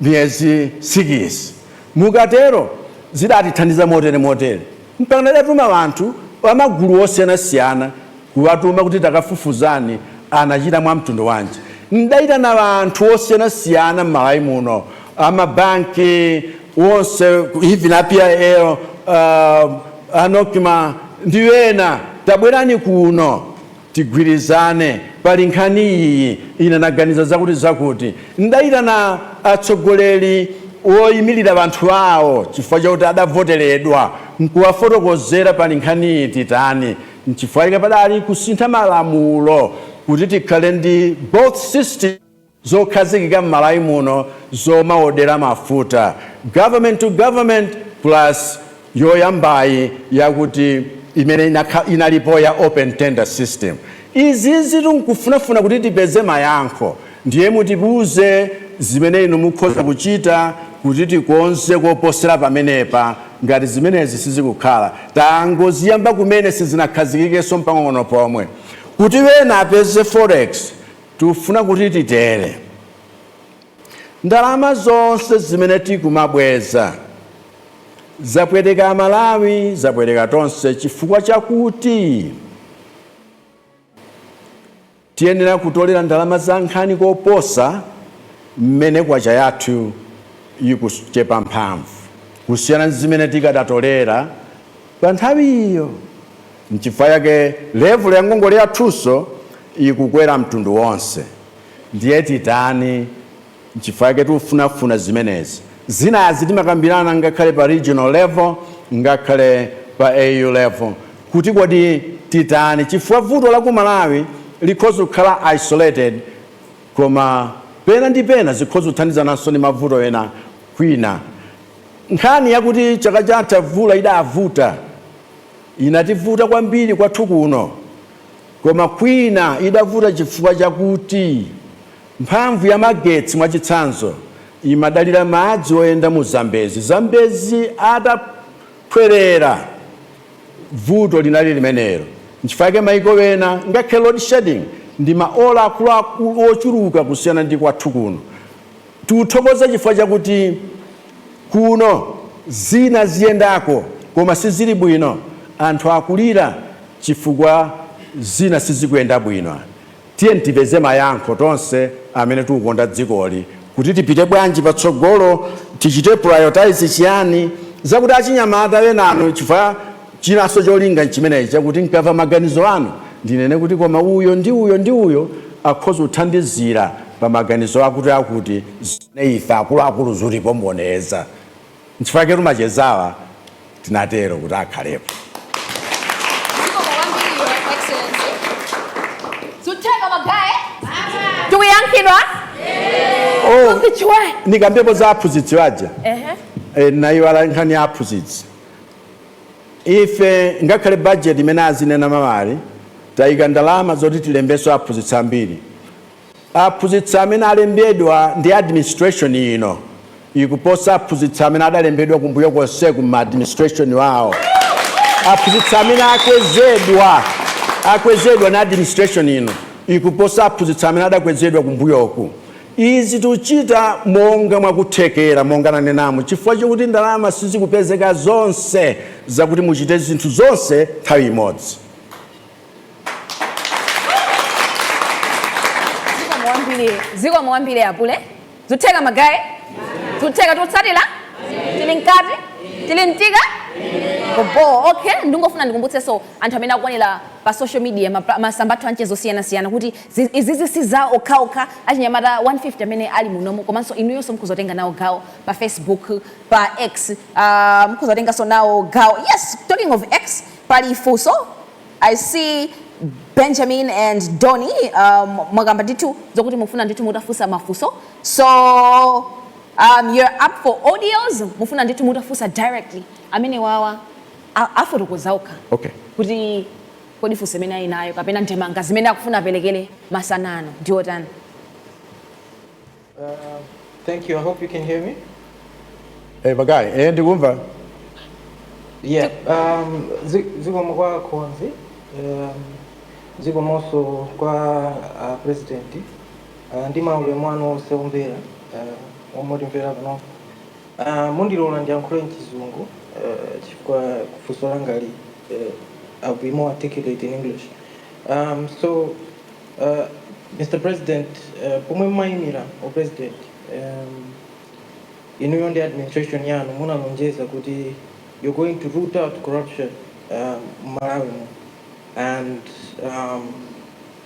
miyezi sikisi. Mukatero zidatithandiza motere motere mpakana ndatuma anthu a magulu osiyanasiyana kuwatuma kuti takafufuzani anachita mwa mtundu wanji. Ndaitana anthu osiyanasiyana m'Malawi muno, a mabanki onse even a PIL, a Nocma ndi ena, tabwerani kuno. tigwirizane pali nkhani iyi, ine naganiza zakuti zakuti. Ndaitana atsogoleri woyimilira banthu awo chifukwa chakuti adavoteredwa nkuwafotokozera pali nkhani iyi titani nchifukwa chake padali kusintha malamulo kuti tikhale ndi both systems. zokhazikika mmalawi muno zomawodera mafuta government to government plus yoyambayi yakuti imene inalipo ya open tender system izizi tikufunafuna kuti tipeze mayankho ndiye mutiwuze zimene inu mukhoza kuchita kuti tikonze koposera pamenepa ngati zimenezi sizikukhala tangoziyamba kumene sizinakhazikikenso mpang'ono pomwe kuti wena apeze forex Tifuna kuti titere. Ndalama zonse zimene tikumabweza zapweteka amalawi zapweteka tonse chifukwa chakuti tiyenera kutolera ndalama za nkhani koposa mmene kwacha yathu yikuchepa mphamvu kusiyana nzimene tikadatolera panthawiyo. Nchifukwa yake level ya ngongole yathunso ikukwera mtundu wonse. Ndiye titani? Nchifukwa yake tifunafuna zimenezi. Zinazi timakambirana ngakhale pa regional level ngakhale pa AU level kuti kodi titani chifukwa vuto la ku Malawi likhoza kukhala isolated koma pena ndi pena zikhoza kuthandizananso ndi mavuto ena kwina. Nkhani yakuti chaka chatha vula idavuta. Inativuta kwambiri kwathu kuno, koma kwina idavuta chifukwa chakuti mphamvu ya magetsi, mwachitsanzo, imadalira madzi oyenda mu Zambezi. Zambezi ataphwerera, vuto linali limenelo. Nchifukwa yake maiko ena, ngakhale load shedding ndi maola akuluakulu ochuluka kusiyana ndi kwathu kuno. Tikuthokoza chifukwa chakuti kuno zina ziyendako koma sizili bwino, anthu akulira chifukwa zina sizikuyenda bwino. Tiye tipeze mayankho tonse amene tikukonda dzikoli kuti tipite bwanji patsogolo, tichite prioritize chiyani, zakuti achinyamata enanu chifukwa. Chinanso cholinga nchimenechi, chakuti ndikamva maganizo anu ndinene kuti koma uyo ndi uyo ndi uyo akhoza kuthandizira pa maganizo akuti akuti zimene ife akuluakulu zikutiphomboneza. Nchifukwa chaketu machezawa tinatero kuti akhalepo. Zikomo kwambiri Your Excellency. Zutheka magaye? Tikuyankhidwa? Oh, Kuzichiwa. ndikambepo za aphunzitsi waja Ehe. eh, naiwala nkhani ya aphunzitsi Ife ngakhale budget imene azinena ma MP tayika ndalama zoti tilembenso aphunzitsi ambiri. Aphunzitsi amene alembedwa ndi administration ino ikuposa aphunzitsi amene adalembedwa kumbuyo konseku mma administration wawo. Aphunzitsi amene akwezedwa akwezedwa ndi administration ino ikuposa aphunzitsi amene adakwezedwa kumbuyoku. Izi tikuchita monga mwakuthekera, monga nanenamu, chifukwa chokuti ndalama sizikupezeka zonse zakuti muchite zinthu zonse nthawi imodzi. Zikomo kwambiri apule. Zikutheka magaye? Zutheka tikutsatila? Tili mkati? Tili mtika? Oboo, okay. Ndingofuna ndikumbutsenso anthu amene akuonera pa social media, masamba athu amchezo osiyanasiyana kuti Izizi si za okhaokha achinyamata 150 amene ali munomu komanso inuyonso mukhoza kutenga nawo gawo pa Facebook, pa X aah mukhoza kutenganso nawo gawo yes talking of X pali funso I see Benjamin and Donny aah mwakamba ndithu zokuti mufuna ndithu mutafunsa mafunso so aah you're up for audios mufuna ndithu mutafunsa directly amenewawa afotokoza okha okay kuti. Kodi funso imene ali nayo kapena ndemanga zimene akufuna aperekere masana ano ndi yotani? Thank you. I hope you can hear me. Eh, Magaye, eh, ndikumva. Yeah, um, zi- zikomo kwa mkonzi, um, zikomonso kwa uh, president uh, ndi maulemu anu onse omvera uh, omwe timvera panopo. Aaa mundilola ndiyankhule mchizungu aah chifukwa funso langali aah I'll be more articulate in English aah so aah Mr president aah pomwe mumayimira u president aah inuyo ndi administration yanu munalonjeza kuti you're going to root out corruption aah mmalawi muno and aah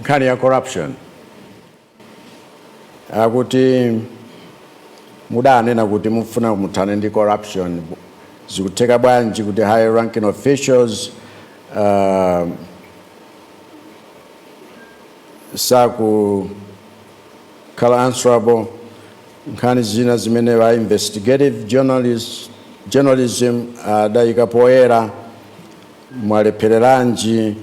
nkhani ya corruption akuti mudanena kuti mufuna muthane ndi corruption zikutheka bwanji kuti high ranking officials uh, sakukhala answerable nkhani zina zimene a investigative journalist, journalism adayika uh, poyera mwalephereranji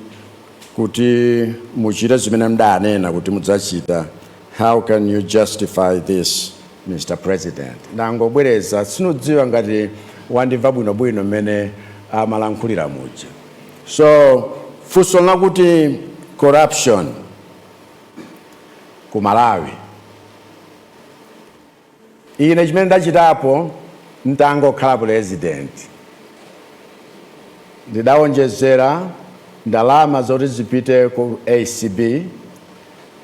kuti muchite zimene mdanena kuti mudzachita how can you justify this Mr President? Ndangobwereza sindidziwa ngati wandimva bwinobwino mmene amalankhulira muja. So funso lakuti corruption ku Malawi Ine chimene ndidachitapo n'tangokhala president, ndidawonjezera ndalama zoti zipite ku acb,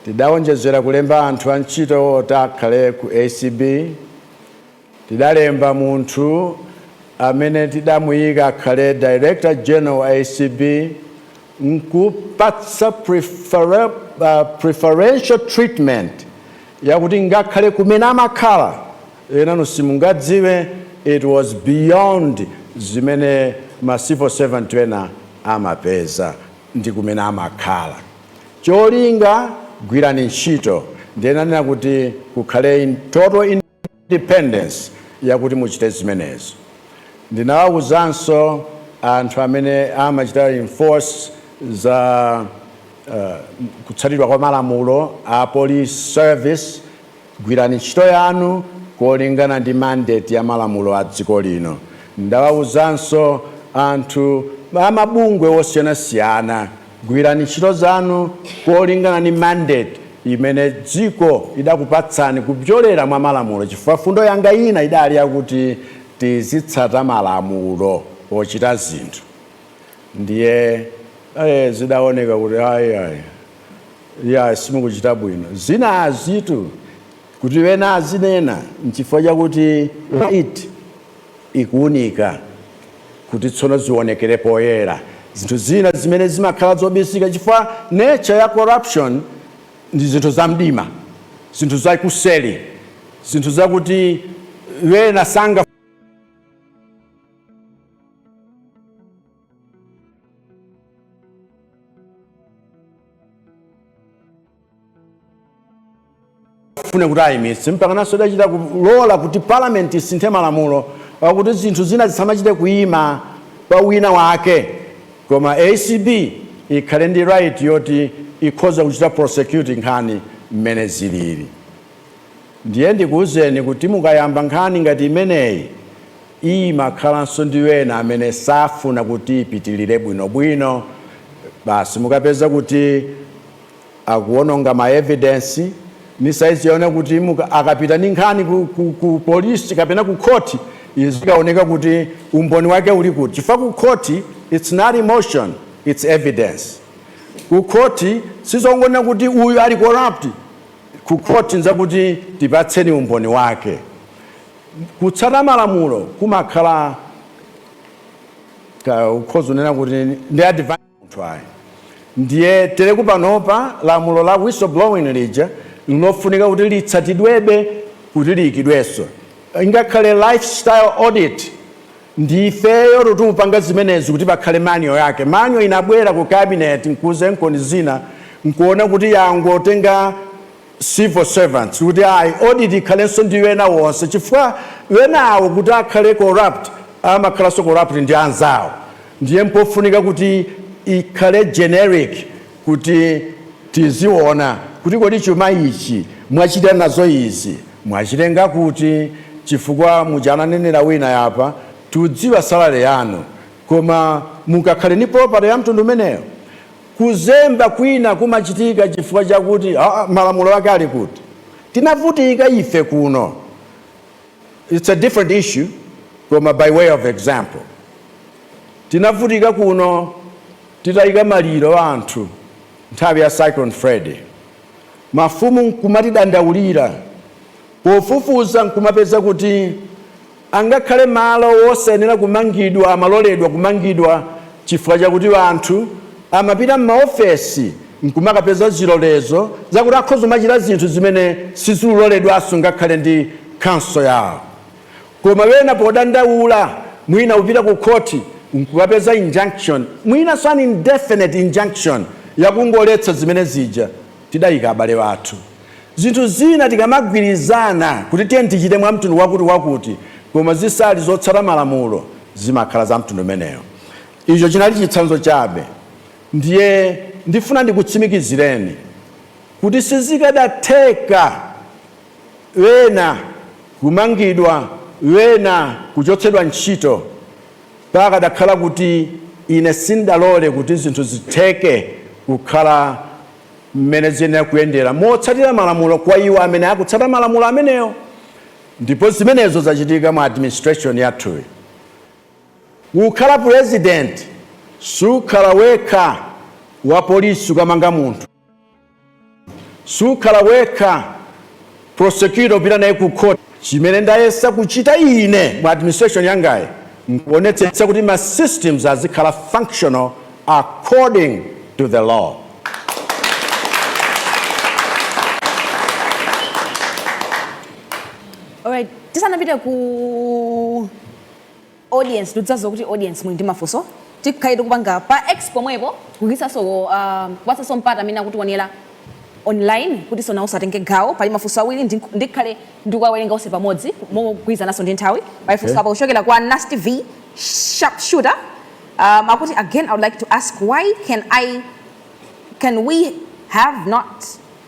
ndidawonjezera kulemba anthu antchito oti akhale ku acb, tidalemba munthu amene tidamuyika akhale Director General wa acb, n'kupatsa preferential treatment yakuti ngakhale kumene amakhala enanu simungadziwe it was beyond zimene ma civil servant ena amapeza ndi kumene amakhala cholinga gwirani ntchito ndiye ndanena kuti kukhale in total in independence yakuti muchite zimenezo. Ndinawawuzanso anthu amene amachita enforce za kutsatidwa kwa malamulo a police service, gwirani ntchito yanu kolingana ndi mandate ya malamulo a dziko lino. Ndidawawuzanso anthu amabungwe osiyanasiyana. Gwirani ntchito zanu kolingana ndi mandate imene dziko idakupatsani kupyolera mwa malamulo chifukwa fundo yanga ina idali yakuti tizitsata malamulo pochita zinthu ndiye eh zidaoneka kuti ayi ayi iyayi simukuchita bwino zinazitu kuti ena azinena nchifukwa chakuti light ikuunika kuti tsono zionekere poyera zinthu zina zimene zimakhala zobisika chifukwa nature ya corruption ndi zinthu za mdima zinthu za kuseli zinthu zakuti ena sanga fune kuti ayimitse mpakanso ndidachita kulola kuti parliament isinthe malamulo akuti zinthu zina zisamachite kuyima pa wina wake koma acb ikhale ndi right yoti ikhoze kuchita prosecute nkhani mmene zilili Ndiye ndikuuzeni kuti mukayamba nkhani ngati imeneyi, imakhalanso ndi ena amene safuna kuti ipitilire bwinobwino, basi mukapeza kuti akuononga ma evidence, n'cholinga kuti muka, akapita ndi nkhani ku, ku, ku polisi kapena ku khoti izikaoneka kuti umboni wake uli kuti, chifukwa ku khoti it's not emotion, it's evidence. Ku khoti sizongonena kuti uyu ali corrupt, ku khoti n'zakuti tipatseni umboni wake. Kutsata malamulo kumakhala kaa ukhoza kunena kuti ndi advance munthu ayi ndiye tereku panopa lamulo la whistleblowing lija linofunika kuti litsatidwebe kuti liyikidwenso ingakhale lifestyle audit Ndi ifeyo tikupanga zimenezi kuti pakhale manual yake. Manual inabwera ku cabinet nkudzaikonza zina nkuona kuti yangotenga civil servants kuti ayi audit ikhalenso ndi ena onse chifukwa enawo kuti akhale corrupt amakhalanso corrupt ndi anzawo ndiye mpofunika kuti ikhale generic kuti tiziona kuti kodi chuma ichi mwachita nazo izi mwachitenga kuti chifukwa muja ananenera wina apa tikudziwa salary yanu koma mukakhale ndi property ya mtundu umeneyo kuzemba kwina kumachitika chifukwa chakuti aa malamulo ake ali kuti tinavutika ife kuno it's a different issue koma by way of example tinavutika kuno Titayika maliro a anthu nthawi ya Cyclone Freddy, mafumu n'kumatidandaulira. Pofufuza n'kumapeza kuti angakhale malo wosayenera kumangidwa amaloledwa kumangidwa chifukwa chakuti anthu amapita m'maofesi n'kumakapeza zilolezo zakuti akhoza kumachita zinthu zimene sizikuloledwanso ngakhale ndi khonsolo yawo. Koma wena podandaula mwina akupita ku khoti nkukapeza injunction mwinanso an indefinite injunction yakungoletsa zimene zija tidayika abale athu. Zinthu zina tikamagwirizana kuti tiyeni tichite mwa mtundu wakuti wakuti koma zisali zotsata malamulo zimakhala za mtundu umenewo. Icho chinali chitsanzo chabe ndiye ndifuna ndikutsimikizireni kuti sizikadatheka. ena kumangidwa, ena kuchotsedwa ntchito. Pakadakhala kuti ine sindinalole kuti zinthu zitheke kukhala mmene ziyenera kuyendera motsatira malamulo kwa iwo amene akutsata malamulo amenewo, ndipo zimenezo zachitika mu administration yathuyi. Kukhala pulezidenti sukhala wekha, wapolisi kukamanga munthu. Sukhala wekha prosecutor upita naye ku court. Chimene ndayesa kuchita ine mu administration yangayi nkuonetsetsa kuti ma systems azikhala functional according to the law. Alright, tisanapite ku audience ndikudziwa kuti audience muli ndi mafunso tikhale tikupanga pa X pomwepo kutinso a kupatsanso mpata amene akutionera online kutinso nawonso atenge gawo pali mafunso awiri ndink- ndikhale ndikuwawerenga onse pamodzi mogwirizananso ndi nthawi pali funso apa kuchokera kwa nasty v sharp shooter um, akuti again i would like to ask why can i can we have not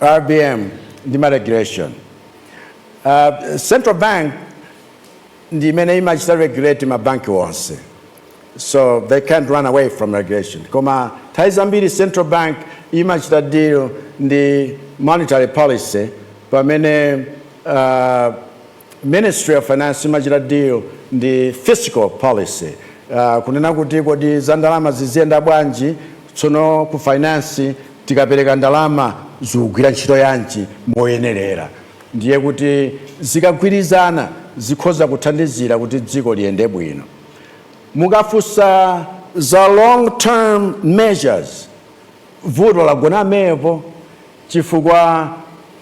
RBM ndi ma regulation. Central Bank ndi imene imachita regulate ma bank onse so they can't run away from regulation. Koma nthawi zambiri Central Bank imachita deal ndi monetary policy pamene uh, Ministry of Finance imachita deal ndi Fiscal Policy kunena kuti kodi za ndalama ziziyenda bwanji, tsono ku Finance tikapereka ndalama zikugwira ntchito yanji moyenelera ndiye kuti zikagwirizana zikhoza kuthandizira kuti dziko liyende bwino. Mukafunsa za long term measures. vuto lagona pamenepo chifukwa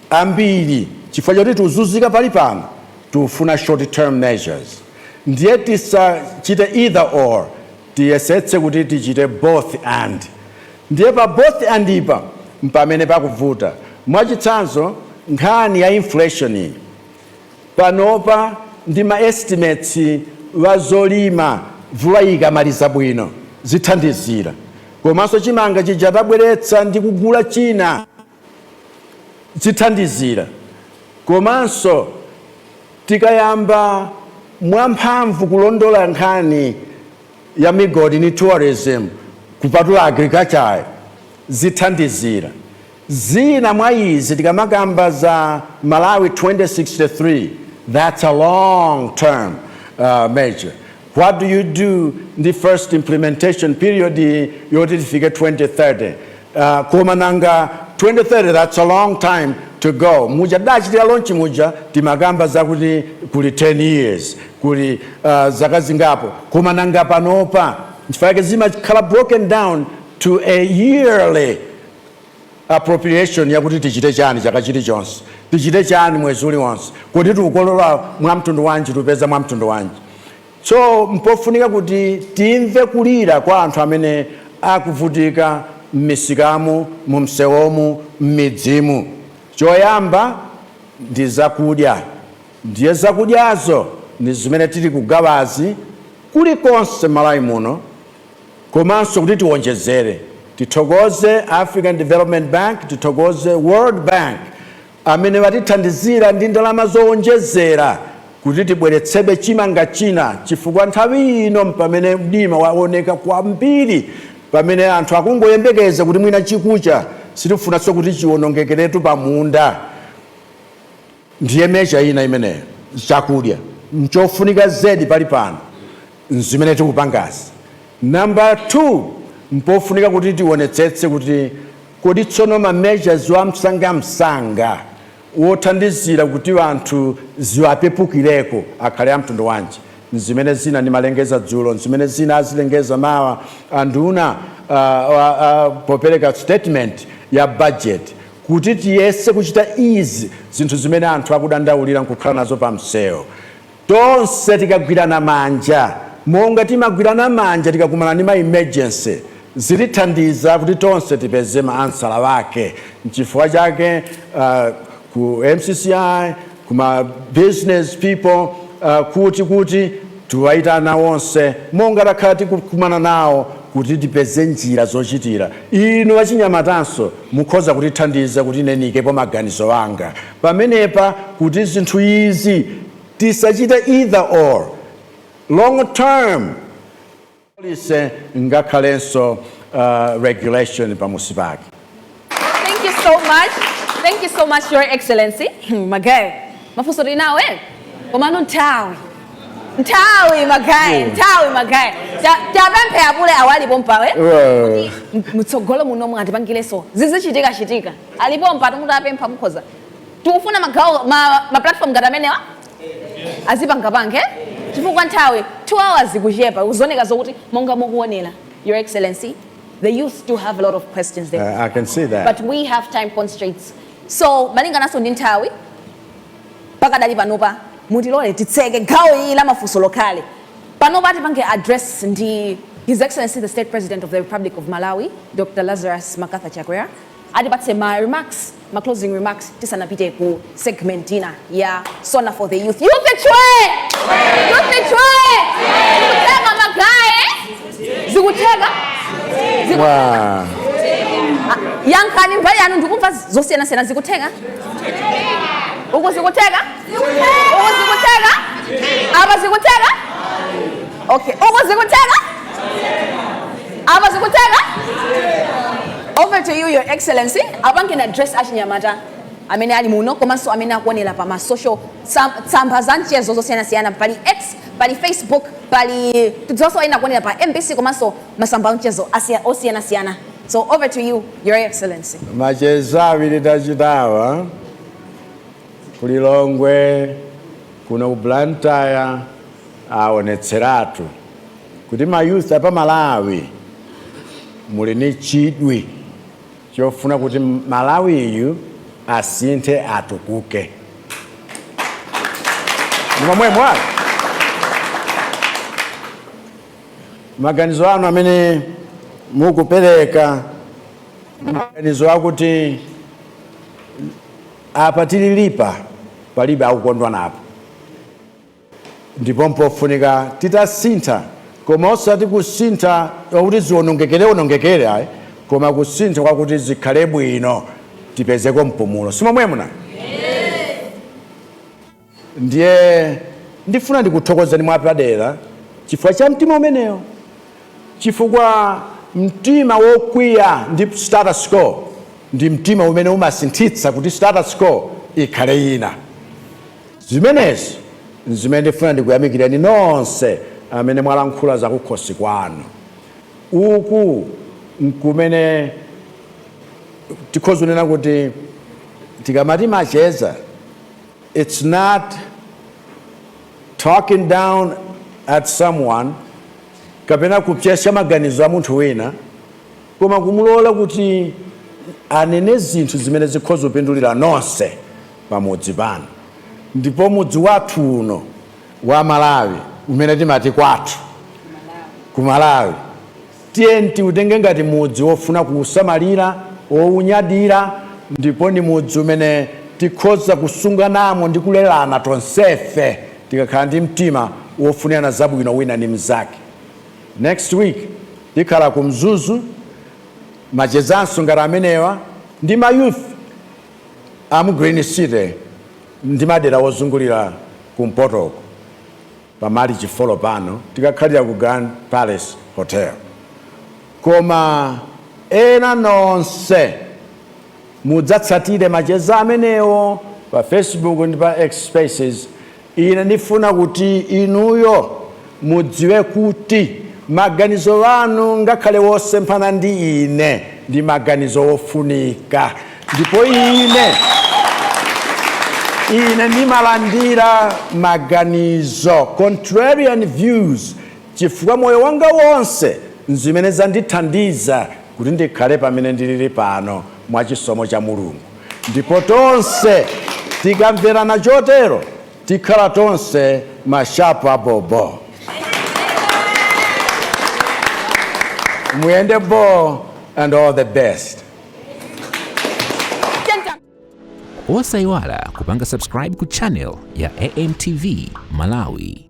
ambiri chifukwa choti tikuzunzika pali pano tikufuna short term measures ndiye tisachite either or tiyesetse kuti tichite both and ndiye pa both and pa mpamene pakuvuta mwachitsanzo nkhani ya inflation iyi panopa ndi ma estimates a zolima mvula ikamaliza bwino zithandizira komanso chimanga chija tabweretsa ndi kugula china zithandizira komanso tikayamba mwamphamvu kulondola nkhani ya migodi ndi tourism kupatula agriculture zithandizira. Zina mwa izi tikamakamba za Malawi 2063 that's a long term measure what do you do ndi first implementation period iyi yoti tifike 2030 koma nanga 2030 that's a long time to go muja tidachitira launch muja timakamba zakuti kuli 10 years kuli zaka zingapo koma nanga panopa nchifukwa chake zimakhala broken down to a yearly appropriation yakuti tichite chani chaka chilichonse, tichite chani mwezi uliwonse, kodi tikolola mwamtundu wanji, tipeza mwamtundu wanji. So mpofunika kuti timve kulira kwa anthu amene akuvutika mmisikamu, mumsewomu, mmidzimu. Choyamba ndi zakudya ndiye zakudyazo ndi zimene tili kugawazi kulikonse Malawi muno. Komanso kuti tiwonjezere, tithokoze African Development Bank, tithokoze World Bank amene watithandizira ndi ndalama zowonjezera kuti tibweretsebe chimanga china chifukwa nthawi ino pamene mdima waoneka kwambiri, pamene anthu akungoyembekeza kuti mwina chikucha, sitifunanso kuti chiwonongekeretu pamunda. Ndiye measure ina imeneyo chakudya nchofunika zedi pali pano nzimene tikupangazi. Number 2 mpofunika kuti tionetsetse kuti kodi tsono ma measures wa msangamsanga wothandizira kuti anthu ziwapepukireko akhale a mtundu wanji. Nzimene zina ndimalengeza dzulo, nzimene zina azilengeza mawa anduna a, a, a popereka statement ya budget. Kuti tiyese kuchita izi, zinthu zimene anthu akudandaulira nkukhala nazo pamsewu, tonse tikagwirana manja monga timagwirana manja tikakumana ndi ma emergency, zilithandiza kuti tonse tipeze ma ansala wake. Nchifukwa chake ku MCCI. kuma business people uh, kuti kuti tiwayitana onse monga takhala tikukumana nawo kuti tipeze njira zochitira inu achinyamatanso mukhoza kutithandiza kuti inenikepo maganizo anga pamenepa kuti zinthu izi tisachite either or long term policy ngakhalenso uh, regulation pamusi pake thank you so much thank you so much your excellency magayi mafunso tili nawo ena komano nthawi nthawi magayi nthawi magayi Ta- tapemphe apule awa alipo mpawe Well, mutsogolo muno mwatipangireso zizichitika chitika alipo mpata mutapempha mukhoza tikufuna magawo ma, ma platform ngati amenewa azipangapange eh? chifukwa nthawi 2 hours ikuchepa zikuoneka zokuti monga mukuonera your excellency the youth still have a lot of questions there uh, I can see that but we have time constraints so malingananso ndi nthawi pakadali panopa mutilole titseke gawo ili la mafunso likhale panopa tipange address ndi his excellency the state president of the republic of malawi dr lazarus mccarthy chakwera atipatse ma remarks, ma closing remarks tisanapite ku segment ina ya SONA for the Youth. Youth chwe! Youth chwe! Zikutheka magaye! Zikutheka? Ziku- Wow. Ah, Yankhani mbali yanu ndikumva zosiyanasiyana zikutheka? Uku zikutheka? Uku zikutheka? Apa zikutheka? Okay, uku zikutheka? apa zikutheka over to you your excellency apange address achinyamata amene ali muno komanso amene akuonera pa ma social tsamba za mchezo zosiyanasiyana pali x pali facebook pali tidzonso ena akuonera pa mbc komanso masamba a mchezo osiyanasiyana so over to you your excellency macheza awiri tachitawa kulilongwe kuno ku blantyre aonetseratu kuti ma youth apa Malawi muli ni chidwi chofuna kuti Malawiyu asinthe atukuke ndi momwemo maganizo anu amene mukupereka maganizo akuti apa tililipa palibe akukondwa napo Ndipo mpofunika titasintha, koma osati kusintha kwakuti ziwonongekerewonongekere ayi, koma kusintha kwakuti zikhale bwino, tipezeko mpumulo. Si momwemo nanga? Ndiye ndifuna ndikuthokozani mwapadera chifukwa cha mtima umenewo, chifukwa mtima wokwiya ndi status quo ndi mtima umene umasinthitsa kuti status quo ikhale ina. Zimenezi n'zimene ndifuna ndikuyamikirani nonse amene mwalankhula zakukhosi kwanu. Uku n'kumene tikhoza kunena kuti tikamati macheza it's not talking down at someone kapena kupsesya maganizo a munthu wina, Koma kumulola kuti anene zinthu zimene zikhoza kupindulira nonse pamudzi pano ndipo mudzi wathu uno wa Malawi umene timati kwathu ku Malawi tiyeni tiutenge ngati mudzi wofuna kuusamalira, wounyadira ndipo ndi mudzi umene tikhoza kusunganamo ndi kulerana tonsefe tikakhala ndi mtima wofunirana zabwino wina ndi mnzake. Next week tikhala ku Mzuzu, machezanso ngati amenewa ndi ma youth amu Green City ndi madera ozungulira kumpotoko pa Marichi folo apano tikakhalira ku Grand Palace Hotel. Koma ena nonse mudzatsatire macheza amenewo pa Facebook ndi pa X Spaces. Ine ndifuna kuti inuyo mudziwe kuti maganizo anu ngakhale wosemphana ndi ine ndi maganizo wofunika ndipo ine ine ndimalandira maganizo contrarian views chifukwa moyo wanga wonse nzimene zandithandiza kuti ndikhale pamene ndili pano mwa chisomo cha Mulungu. Ndipo tonse tikamverana chotero, tikhala tonse mashapu abhobho. Muyende bho and all the best. Osayiwala kupanga subscribe ku channel ya AMTV Malawi.